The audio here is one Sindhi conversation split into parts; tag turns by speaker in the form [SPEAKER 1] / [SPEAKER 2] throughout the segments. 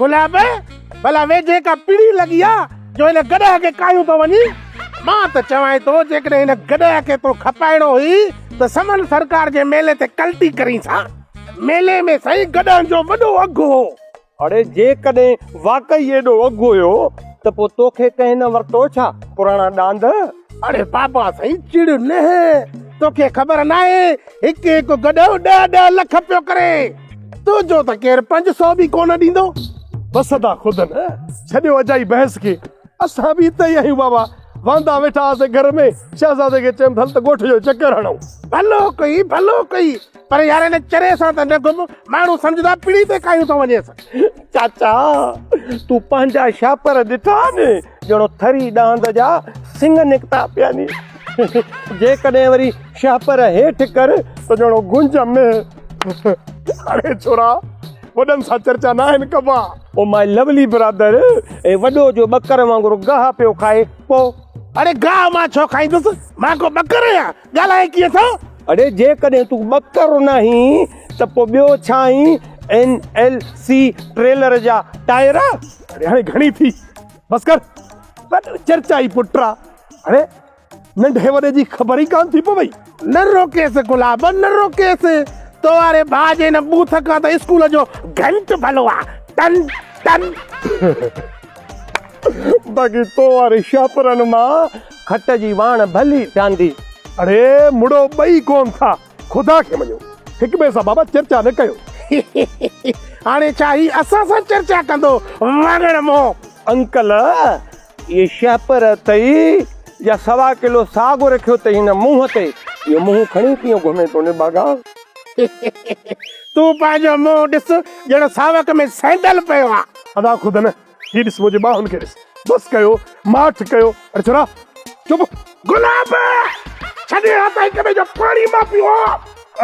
[SPEAKER 1] گلاب!
[SPEAKER 2] ڀلا ويجهي ڪا پڙي لڳي آ جو هن گڏهه کي ڪاهيون ٿو وڃين. مان ته چوانء ٿو جيڪڏهن هن گڏهه کي تو کپائڻو هئي ته سمن سرڪار جي ميلي تي ڪلٽي ڪرينس ها. ميلي ۾ سائين گڏهن جو وڏو اگهه هو. اڙي
[SPEAKER 1] جيڪڏهن واقعي ايڏو اگهه هيو ته پوء توکي ڪنهن نه ورتو ڇا پراڻا ڏاند؟ اڙي بابا
[SPEAKER 2] سائين چڙ نه توکي خبر ناهي هڪ هڪ گڏهو ڏهه ڏهه لک پيو ڪري تنهنجو ته ڪير پنج سو به ڪونه ڏيندو بس ادا
[SPEAKER 1] خود نه ڇڏيو اجائي بحث کي اسان به اتي ئي آهيون بابا واندا ويٺا هئاسين گهر ۾ شهزادي کي چيم هل ته ڳوٺ جو چڪر هڻون ڀلو ڪئي
[SPEAKER 2] ڀلو ڪئي پر يار هن چري سان ته نه گهم ماڻهو سمجهندا پڙي تي کايون ٿو وڃيس چاچا
[SPEAKER 1] تون پنهنجا شاپر ڏٺا آهن ڄڻو ٿري ڏاند جا سنگ نڪتا پيا ني جيڪڏهن وري شهپر هيٺ ڪر ته ڄڻو گنج ۾ اڙي ڇورا وڏن سان چرچا ناهن ڪبا او مائي لولي برادر اي وڏو جو ٻڪر وانگر گاهه پيو کائي پو اڙي گاهه
[SPEAKER 2] مان ڇو کائيندس مان ڪو ٻڪر آهيان. ڳالهائين ڪيئن ٿا؟ اڙي جيڪڏهن
[SPEAKER 1] تون ٻڪرو ناهين ته پوء ٻيو ڇا آهين؟ اين ايل سي ٽريلر جا ٽائر؟ اڙي هاڻي گهڻي ٿي بس ڪر وڏو چرچائي پٽ آ. اڙي ننڍي وڏي جي خبر ئي ڪانه ٿي پوي. نه روڪيس
[SPEAKER 2] گلاب نه روڪيس تو واري ڀاء جي هن بوٿ کان ته اسڪول جو گهنٽ ڀلو آ ٽن ٽن.
[SPEAKER 1] باقي تو واري شاپرن مان کٽ جي واڻ ڀلي ٽاندي. اڙي مڙو ٻئي قوم ٿا خدا کي مڃو هڪ ٻئي سان بابا چرچا نه ڪيو.
[SPEAKER 2] هاڻي ڇا هي اسان سان چرچا ڪندو واڳڻ منهن. انڪل
[SPEAKER 1] اهي شهپر اٿئي يا سوا ڪلو ساڳو رکيو اٿئي هن منهن تي اهو منهن کڻي ڪيئن گهمي ٿو نڀاڳا. تون
[SPEAKER 2] پنهنجو منهن ڏس ڄڻ ساوڪ ۾ سينڊل پيو آ. ادا خود نه
[SPEAKER 1] هي ڏس منهنجي ٻانهن کي ڏس. بس ڪيو ماٺ ڪيو اڙي ڇورا چپ. گلاب!
[SPEAKER 2] ڇڏي ها ته هڪ ٻئي جو پاڻي مان پيئون ها.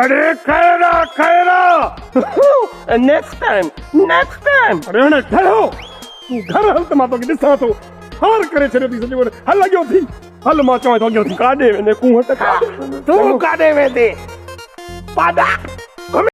[SPEAKER 2] اڙي
[SPEAKER 1] خيرا خيرا. Next time next time. اڙي هاڻي ٺهيو تون گهر هل ته مان توکي ڏسان ٿو. خار ڪري ڇڏيو اٿئي سڄو گهر هل اڳيو ٿي هل مان چوانء ٿو اڳيو ٿي. ڪاڏي ويندين
[SPEAKER 2] ڪونهٽ
[SPEAKER 1] ڪاڏي ويندين. تون ڪاڏي ويندين
[SPEAKER 2] پاڏا.